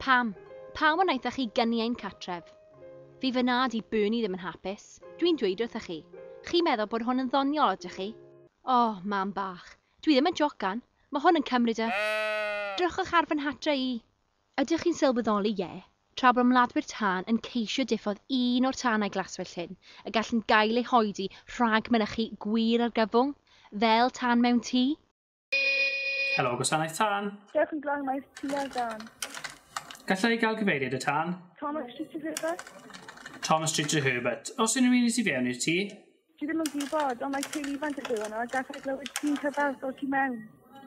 Pam? Pam wnaethoch chi gyni ein catref? Fi fy nad i Bernie ddim yn hapus. Dwi'n dweud wrthoch chi. Chi'n meddwl bod hwn yn ddoniol, ydych chi? O, oh, mam bach. Dwi ddim yn jocan. Mae hwn yn cymryd y... Drychwch ar fy nhatre i. Ydych chi'n sylweddoli, ie, tra bod ymladwyr tân yn ceisio diffodd un o'r tanau glaswellt hyn, y gallent gael eu hoedi rhag mynychu gwir argyfwng, fel tân mewn tŷ? Helo, Gwasanaeth Tân. Dewch yn glân, mae eich tŷ ar dân. Galla i gael cyfeiriad y tân? Thomas Street to Herbert. Thomas Street to Herbert. Oes unrhyw un i tu fewn i'r tŷ? Dwi ddim yn gwybod, ond mae teulu ifanc yn byw yno a gallai glywed crin cyfalf o tu mewn.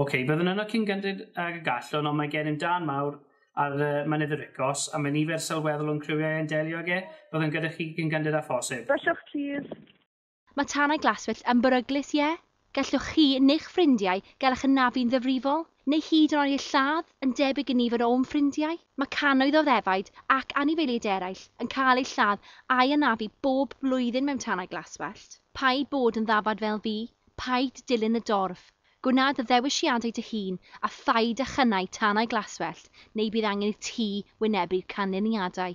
Ok, byddwn yno cyn gynted ag y gallwn, ond mae gennym dân mawr ar Mynydd y Ricos, a mae nifer sylweddol o'n criwiau yn delio ag e. Byddwn gyda chi cyn gynted â phosib. Byswch plîs. Mae tanau glaswellt yn beryglus, ie? Gallwch chi neu'ch ffrindiau gael eich anafu'n ddifrifol, neu hyd yn oed eich lladd, yn debyg i ni fod o'm ffrindiau. Mae cannoedd o ddefaid ac anifeiliaid eraill yn cael eu lladd a'u hanafu bob blwyddyn mewn tanau glaswellt. Paid bod yn ddafad fel fi, paid dilyn y dorf, gwna dy ddewisiadau dy hun a phaid â chynnau tanau glaswellt neu bydd angen i ti wynebu'r canlyniadau.